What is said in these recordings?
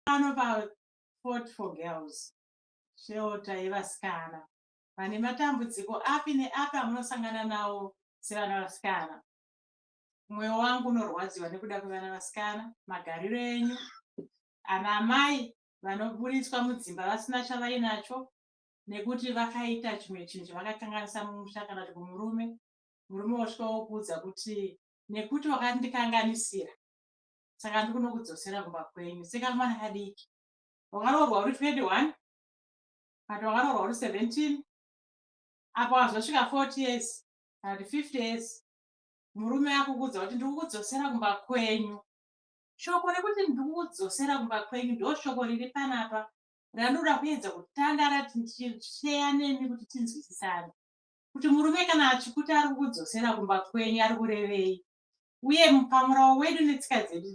pano pafort for girls sheota yevasikana vane matambudziko api neapi amunosangana nawo sevana vasikana mwoyo wangu unorwadziwa nekuda kwevana vasikana magariro enyu ana amai vanoburitswa mudzimba vasina chavainacho nekuti vakaita chimwe chinhu chavakakanganisa mumusha kana kuti kumurume murume wosvika wokuudza kuti nekuti wakandikanganisira saka ndikunokudzosera kumba kwenyu seka mwana kadiki wakaroorwa uri 21 but wakaroorwa uri 17 apo wazosvika 40 years kana kuti 50 years murume akukuudza kuti ndikukudzosera kumba kwenyu shoko rekuti ndikukudzosera kumba kwenyu ndo shoko riri panapa randinoda kuedza kutanga rati ndichiseya nemi kuti tinzwisisane kuti murume kana achikuti ari kukudzosera kumba kwenyu ari kurevei uye pamurawo wedu netsika dzedu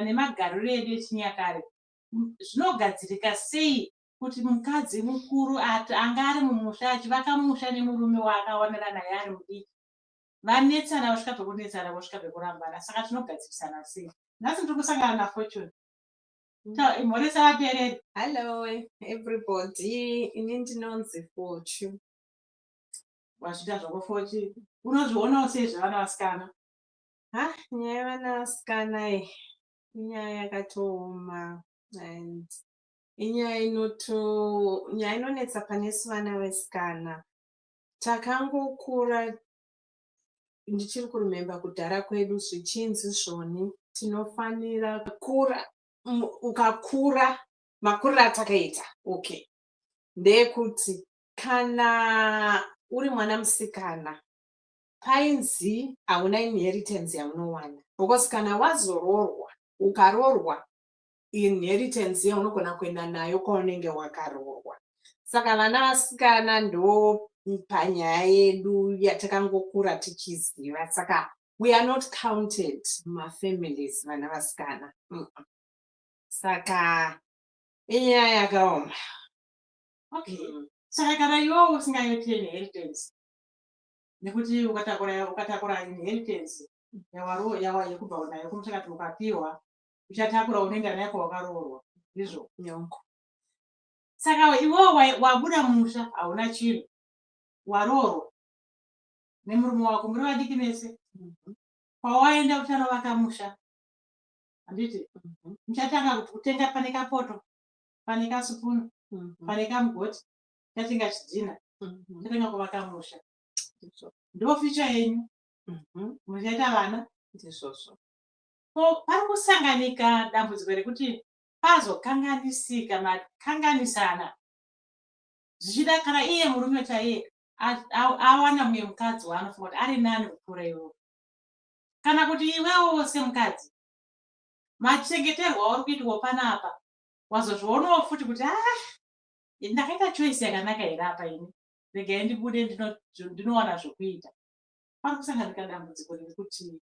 nemagariro edu echinyakare zvinogadzirika sei kuti mukadzi mukuru anga ari mumusha achivaka musha nemurume waakawanira naye ari mudiki vanetsana vasvika pekunetsana vosvika pekurambana saka tinogadzirisana sei nhasi ndiri kusangana nafortune mhoresa vatereri hallo everybody ini ndinonzi fortune wazviita zvako fochi unozvionawo sei zvevana vasikana ha nyaya yevana vasikana i inyaya yakatooma and inyaya inoto nyaya inonetsa pane su vana vesikana takangokura ndichiri kurememba kudhara kwedu zvichinzi zvoni tinofanira kura ukakura makuriro atakaita okay ndeyekuti kana uri mwana musikana painzi hauna inheritance yaunowana because kana wazoroorwa ukaroorwa inheritance yaunogona kuenda nayo kwaunenge wakaroorwa saka vana vasikana ndo panyaya yedu yatakangokura tichiziva saka we are not counted mafamilies vana vasikana saka inyaya yakaoma okay mm. saka kana iwewo usingaite inheritance nekuti ukatakura ukatakura inheritance yawaro yawa yekubva unayo kumusha kati ukapiwa uchatakura unoenda nayo kwawakaroorwa ndizvo nyongo saka iwewo wabuda musha hauna chinhu waroorwa nemurume wako muri vadiki mese mm-hmm. kwawaenda kuchanovaka musha handiti mm-hmm. muchatanga kuti kutenga pane kapoto pane kasupunu mhm. pane kamugoti tatenga chidhina mhm. tatenga kuvaka musha ndoficha yenyu mhm. muchaita vana ndizvozvo ko pari kusanganika dambudziko rekuti pazokanganisika makanganisana zvichida kana iye murume chaiye awana mumwe mukadzi waanofunga kuti ari nani kupfuura iwo kana kuti iwewo wose mukadzi machengeterwa uri kuitwa panapa wazozvionawo futi kuti ah ini ndakaita choice yakanaka here apa ini regai ndibude ndinowana zvokuita pari kusanganika dambudziko rekuti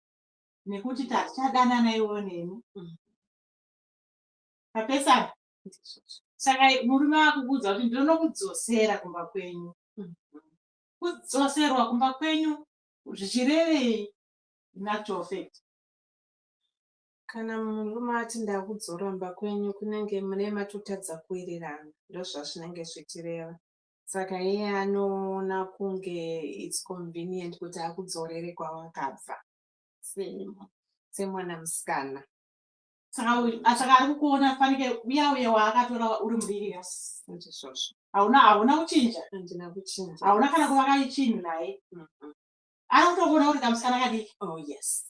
nekuti tatichadanana iwo neni mm. papesana saka murume akukuudza kuti ndinonokudzosera kumba kwenyu mm. kudzoserwa kumba kwenyu zvichirevei natural fact Kana murume ati ndakudzoromba kwenyu kunenge mune matotadza kuwirirana ndozvazvinenge zvichireva. Saka iye anoona kunge it's convenient kuti akudzorere kwawakabva semwana musikana. Saka saka ari kukuona fanike uya uye waakatora uri mudiki yes ndizvozvo. Hauna hauna kuchinja? Handina kuchinja. Hauna kana kuvaka chinhu naye? Mm -hmm. anotogona kuti kamusana kadiki oh,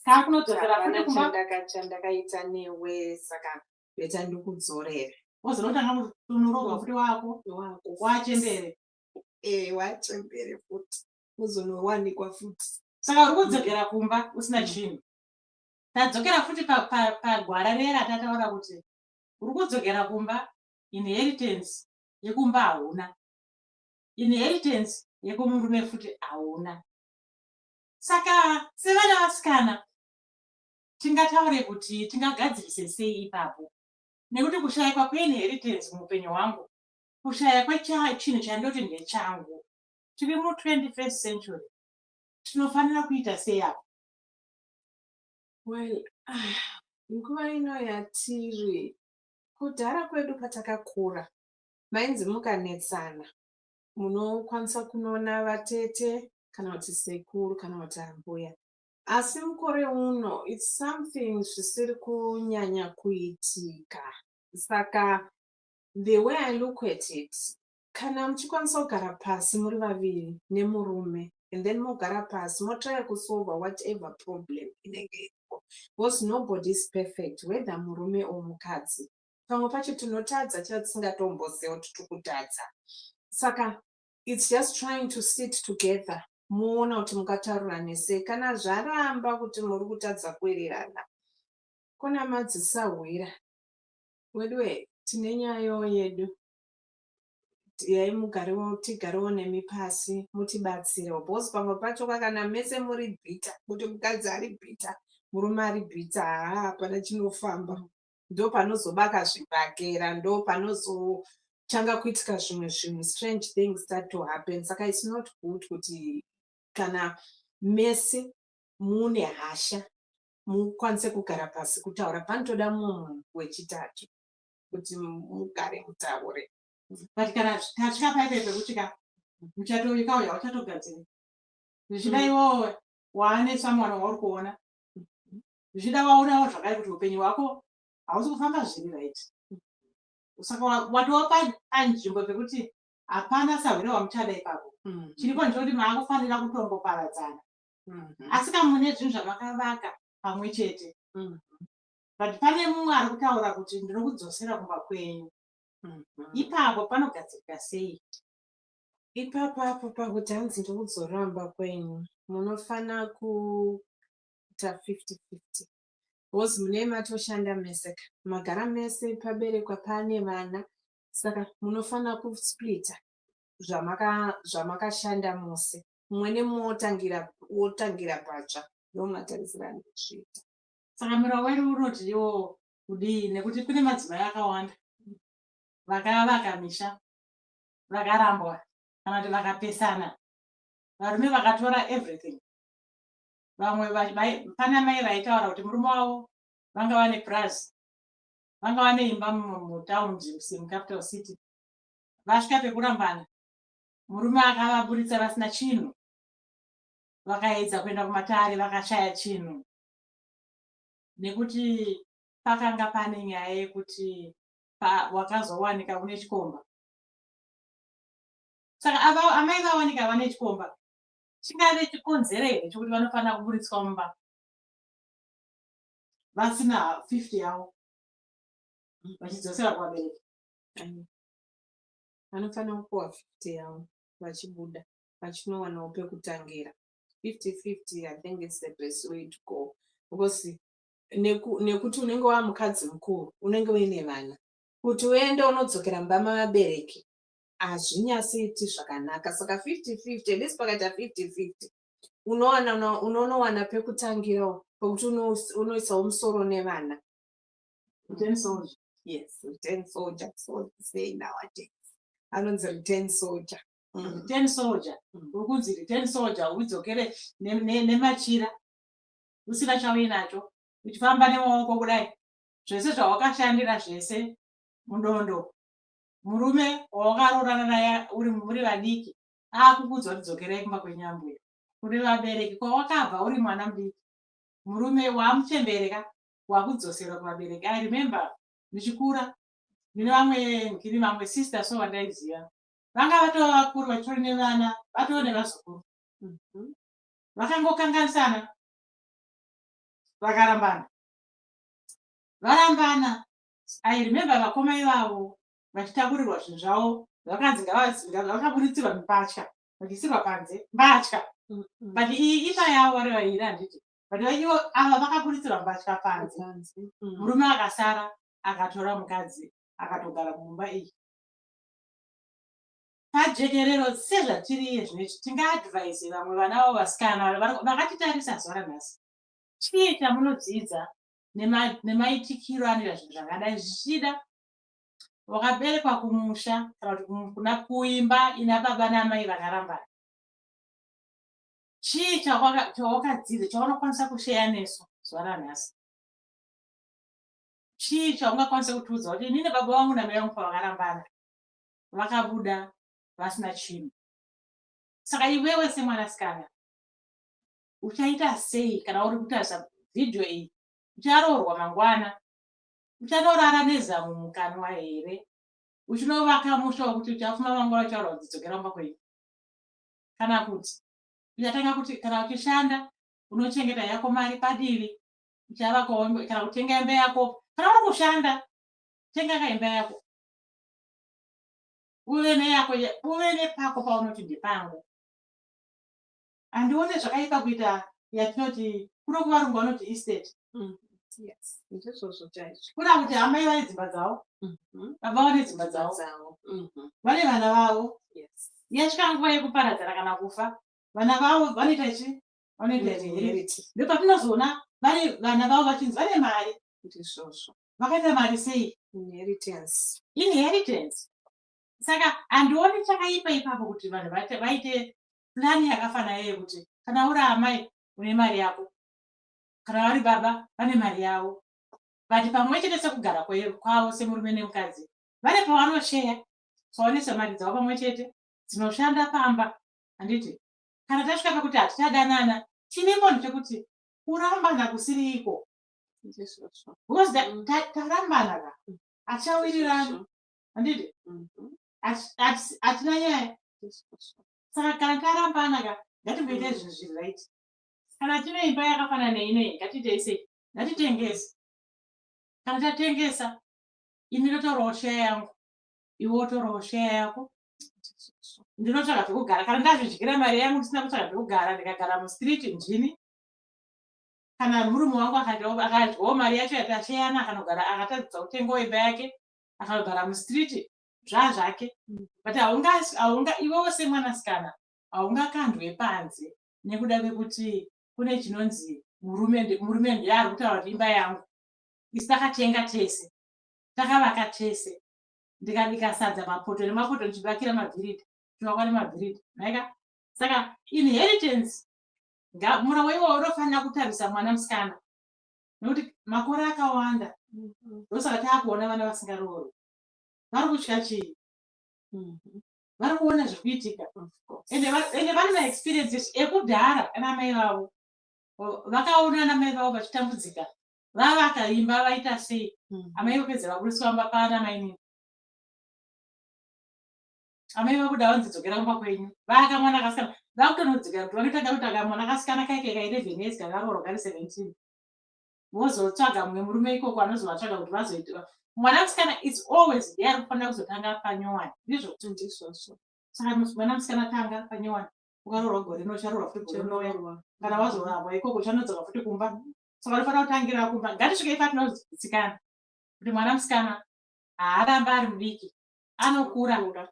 kaa kunodzokera futi kumba chandakaita newe saka beta ndikudzorere wozonotanga kutunuroga futi wako wachembere ee wachembere futi uzonowanikwa futi saka uri kudzokera kumba usina chinhu tadzokera futi pagwara riye ratataura kuti uri kudzokera kumba inheritance yekumba hauna inheritance yekumurume futi hauna saka sevana vasikana tingataure kuti tingagadzirise sei ipapo nekuti kushayikwa kweinheritance muupenyu hwangu kushaya kwechinhu chandoti ndechangu tiri mu21st century tinofanira kuita sei apo well ah, nguva ino yatiri kudhara kwedu patakakura Mainzi mukanetsana munokwanisa kunoona vatete kana kuti sekuru kana kuti ambuya asi mukore uno its something zvisiri kunyanya kuitika saka the way i look at it kana muchikwanisa kugara pasi muri vaviri nemurume and then mogara pasi motraya kusolva whatever problem inenge iripo because nobody is perfect whether murume or mukadzi pamwe pacho tinotadza chaiva tisingatomboziva kuti tiri kutadza saka its just trying to sit together moona kuti mukataura nesei kana zvaramba kuti muri kutadza kuwirirana kuna madzisahwira weduwe tine nyayo yedu yai mugarewo tigarewo nemi pasi mutibatsirewo bcause pamwe pacho kakana mese muri bhita kuti mukadzi ari bhita murume ari bhita haa hapana chinofamba ndopanozobaka zvibhakera ndopanozotanga kuitika zvimwe zvinhu strange things start to happen saka its not good kuti kana mese mune hasha mukwanise kugara pasi kutaura panotoda mumwe munhu wechitatu kuti mugare mutaure but kana tasvika paite zvekuti ka muchatoikauya uchatogadziri zvichida iwowe waane someone wauri kuona zvichida waonawo zvakare kuti upenyu hwako hausi kufamba zviri right saka watova panzvimbo pekuti hapana sahwere wamuchada ipapo mm. chiripo ndichoti maakufanira kutongoparadzana mm-hmm. asi kamune zvinhu zvamakavaka pamwe chete mm. but pane mumwe ari kutaura kuti ndinokudzosera kumba kwenyu mm-hmm. ipapo panogadzirika sei ipapo apo pakuti hanzi ndikudzoramba kwenyu munofana ku kuita 50-50 bcoz munee matoshanda mese ka magara mese paberekwa paane vana saka munofanira kusplita zvamakashanda mose mumwe nemumwe wotangira patsva ndomatarisirana kuzviita saka muroori unotiwo kudii nekuti kune madzimai akawanda vakavaka misha vakarambwa kana kuti vakapesana varume vakatora everything vamwe pana mai vaitaura kuti murume wavo vanga vane purazi vanga vane imba mutaundi mucapital city vasvika pekurambana murume akavaburitsa vasina chinhu vakaedza kuenda kumatare vakashaya chinhu nekuti pakanga pane nyaya yekuti wakazowanika une chikomba saka amai vawanika vane chikomba chingave chikonzero here chokuti vanofanira kuburitswa mumba vasina 50 yavo vachidzosera kuvabereki vanofanira kupuwa 50 yavo vachibuda vachinowanawo pekutangira 5050 i think its the best way to go because nekuti unenge waa mukadzi mukuru unenge uine vana kuti uende unodzokera mumba mavabereki hazvinyasiiti zvakanaka saka 50-50 at least pakaita 50-50 unowana unonowana pekutangirawo pokuti unoisawo musoro nevana yes return soldier so say nowadays anonzi return soldier mm. return soldier mm. uri kunzi return soldier udzokere nemachira usina chauinacho uchifamba nemaoko kudai zvese zvawakashandira zvese mudondo murume wawakaroorana naye uri muri vadiki akukuudza kuti dzokerai kumba kwenyu ambuya kune vabereki kwawakabva uri mwana mudiki murume waamuchembereka wakudzosera kuvabereki i remember ndichikura ndine vamwe ndiri vamwe sister so vandaiziva vanga vatova vakuru vachitori nevana vatoo nevazukuru mhm. vakangokanganisana vakarambana varambana I remember vakoma ivavo vachitakurirwa zvinhu zvavo vakanzi ngavazinga vakaburitsirwa mipatya vachiisirwa panze mbatya but iyi ima yavo vari vairi handiti but vaivo ava vakaburitsirwa mbatya panze murume akasara akatora mukadzi akatogara mumba iyi pajekerero sezvatiriye zvinoiti tingaadvise vamwe vana vavo vasikana vakatitarisa zuva ranhasi chii chamunodzidza nemaitikiro anoita zvinhu zvakadai zvichida wakaberekwa kumusha kana kuti kuna kuimba ina baba naamai vakarambana chii chawakadzidza chaunokwanisa kusheya nesu zuva ranhasi chii chaungakwanisa kutiudza kuti inini baba vangu namai vangu pavakarambana vakabuda vasina chinhu saka iwewe semwanasikana uchaita sei kana uri kutarisa vhidhiyo iyi ucharoorwa mangwana uchanorara nezamu mukanwa here uchinovaka musha wekuti uchafuma mangwana uchaurwa dzidzokera mumba kwenyu kana kuti uchatanga kuti kana uchishanda unochengeta yako mari padivi uchavaka kana kutenga imba yako kana uri kushanda tenga ka imba yako uve neyako uve nepako paunoti ndepangu handione zvakaipa kuita yatinoti kuno kuvarungu vanoti estate mm, ndizvozvo chaizvo kuna kuti amai vane dzimba dzavo mm-hmm. baba vane dzimba dzavo mm-hmm. vane vana vavo yasvika nguva yekuparadzana kana kufa vana vavo vanoita chi vanoita chiheriti mm-hmm. ndopatinozoona vane vana vavo vachinzi vane mari ndizvozvo vakaita mari sei inheritance inheritance saka handioni chakaipa ipapo kuti vanhu vaite plani yakafanana yekuti kana uri amai une mari yako kana vari baba vane mari yavo vati pamwe chete sekugara kwavo semurume nemukadzi vane pavanosheya tsaonese mari dzavo pamwe chete dzinoshanda pamba handiti kana tasvika pekuti hatichadanana chine mboni chekuti kurambana kusiriiko because tarambana ka hatichawirirani handiti mm-hmm. hatina nyaya saka kana tarambana ka ngatimboita izvi zviri right kana tine imba yakafanana neinoi ngatiitei sei ngatitengese kana tatengesa ini ndotorawo sheya yangu iwe wotorawo sheya yako ndinotsvaga zvekugara kana ndazvidyira mari yangu ndisina kutsvaga zvekugara ndikagara mustreet ndini kana murume wangu akadyawo mari yacho yatasheyana akanogara akatadzisa kutengawo imba yake akanogara mustreet zvazvake but haunga haunga iwewo semwanasikana haungakandwe panze nekuda kwekuti kune chinonzi murume murume ndiye ari kutaura kuti imba yangu isi takatenga tese takavaka tese ndikabika sadza mapoto nemapoto ndichibakira mabhiridi chivakwa nemabhiridi maika saka inheritance mura weiwawo unofanira kutarisa mwana musikana nekuti makore akawanda ndosaka taakuona vana vasingaroori vari kutya chii mhm. vari kuona zviri kuitika ende vane maexperience esu ekudhara ana mai vavo vakaona ana mai vavo vachitambudzika vavakaimba vaita sei mhm. amai vapedza vaburitsi vamba paana mainini amai vakuda vanzi dzokera kumba kwenyu vaaka mwana akasikana vakutonodzikira kuti vanotaga kutaga mwana akasikana kaike ka 11 years kakarorwa kari 17 vozotsvaga mumwe murume ikoko anozovatsvaga kuti vazoita mwana musikana its always there kufanira kuzotanga panyowani ndizvo ndizvozvo saka mwana musikana tanga panyowani ukaroorwa gore rino ucharoorwa futi gore rinoya kana wazorambwa ikoko uchanodzoka futi kumba saka unofanira kutangira kumba ngatisvike ifa tinozitsikana kuti mwana musikana haaramba ari mudiki anokura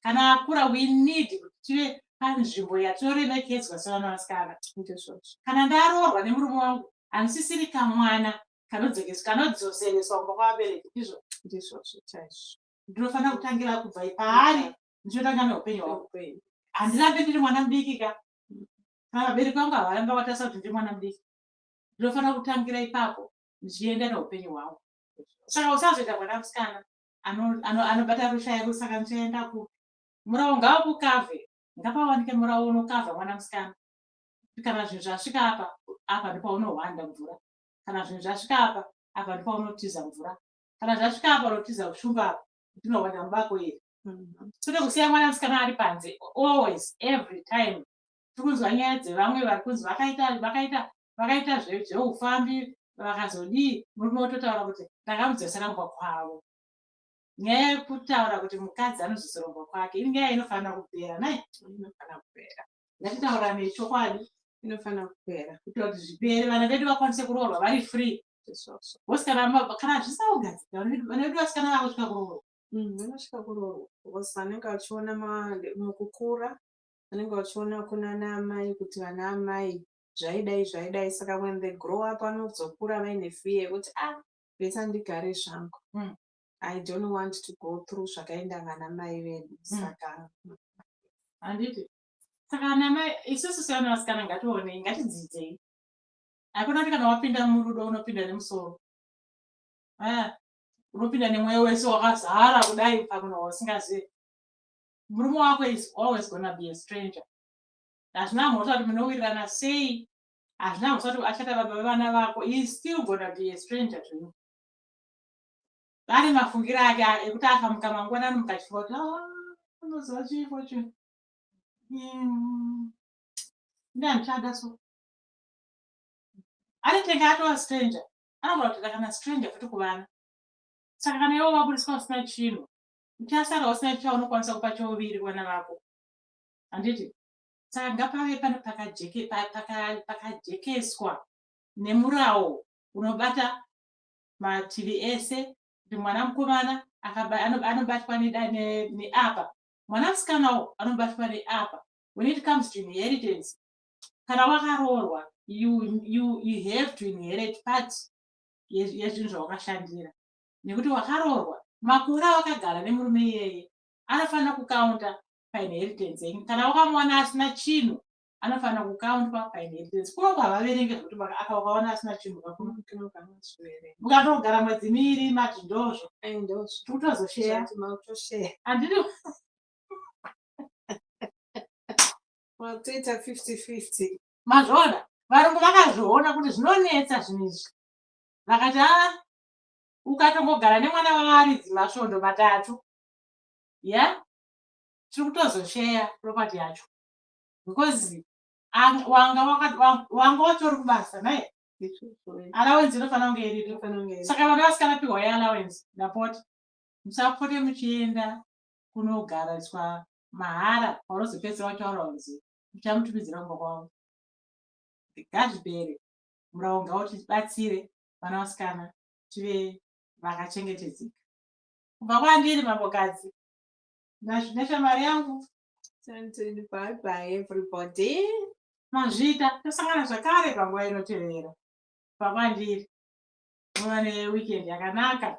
kana akura we need kuti tive panzvimbo yatoremekedzwa sevana vasikana kana ndaroorwa nemurume wangu handisisiri kamwana kanodzokeswa kanodzosereswa kumba kwavabereki ndizvo ndizvozvo chaizvo ndinofanira kutangira kubva paari ndichotanga neupenyu hwangu handirambe ndiri mwana mudiki ka kana vabereki vangu havaramba vatarisa kuti ndiri mwana mudiki ndinofanira kutangira ipapo ndichienda neupenyu hwangu saka usazoita mwana musikana anobata rusha yedu saka ndichaenda kupi murawo ngavakukavhe ngapawanike murawo unokavha mwana musikana kana zvinhu zvasvika apa apa ndipaunohwanda mvura kana zvinhu zvasvika apa apa ndipaunotiza mvura kana zvasvika apa unotiza ushumba apa ndinohwanda mubako iri mm-hmm. tode kusiya mwana musikana ari panze always every time tikunzwa nyaya dzevamwe vari kunzi vakaita vakaita vakaita zveufambi vakazodii murume ototaura kuti ndakamudzoseraumba kwavo nyaya yekutaura kuti mukadzi anozosoromba kwake iri nyaya inofanira kupera nai inofanira kupera ndatitaura nechokwadi inofanira kupera kuitira kuti zvipere vana vedu vakwanise kuroorwa vari free bcause kana zvisaugadzika vana vedu vasikana vakusvika kuroorwa mm, vanosvika kuroorwa bcause vanenge vachiona mukukura vanenge vachiona kunana amai kuti vana amai zvaidai zvaidai saka when they grow up vanozokura vaine fear yekuti a ah, lesa ndigare zvangu mm. i don't want to go through zvakaenda vana mai vedu mm. saka handiti saka anamai isusu sevana vasikana ngationei ngatidzidzei hakuna kuti kana wapinda murudo unopinda nemusoro ah, unopinda nemweya wese wakazara kudai pamunhu wausingazive murume wako is always gonna be a stranger hazvina mhosva kuti munowirirana sei hazvina mhosva kuti achata baba vevana vako he is still gonna be a stranger to you vane mafungiro ake ekuti akamuka mangwanani mukachifa kuti ah, unoziva chii focho hmm. ndi andichada so anetenge atova stranger anogona kutoita kana stranger futi kuvana saka kana iwo vaburiswa usina chinhu uchasara usina chaunokwanisa kupa chouviri vana vako handiti saka ngapave pano pakajekeswa nemurawo unobata mativi ese kuti mwana mukomana anobatwa neapa mwana musikanawo anobatwa neapa when it comes to inheritance kana wakaroorwa you, you, you have to inherit part yezvinhu zvawakashandira nekuti wakaroorwa makore awakagara nemurume iyeye anofanira kukaunta painheritance yenyu kana wakamuona asina chinhu anofanira kukaundwa painheritance kuno kwavaverenge zvekuti aka ukaona asina chinhu ukatogara mwedzi miiri mati ndozvo tikutozosheya andiri toita fifty fifty mazvoona varungu vakazviona kuti zvinonetsa zvinhu izvi vakati a ah, ukatongogara nemwana wavaridzi masvondo matatu ya yeah? tiri kutozosheya property yacho because wanga watori kubasa naye allowance inofanira kunge iriri saka vana vasikana pihwa ye allowance ndapota musapote muchienda kunogariswa mahara kwaunozopedzisira wataura kunzi muchamutumidzira kumba kwavo gazvibere murau ngautibatsire vana vasikana tive vakachengetedzeka kubva kwandiri mambokadzi Ndazvida shamwari yangu. Sendeni bye bye everybody. Mazvita tosangana zvakare panguva inotevera. Pakwandiri. Muva neweekend yakanaka.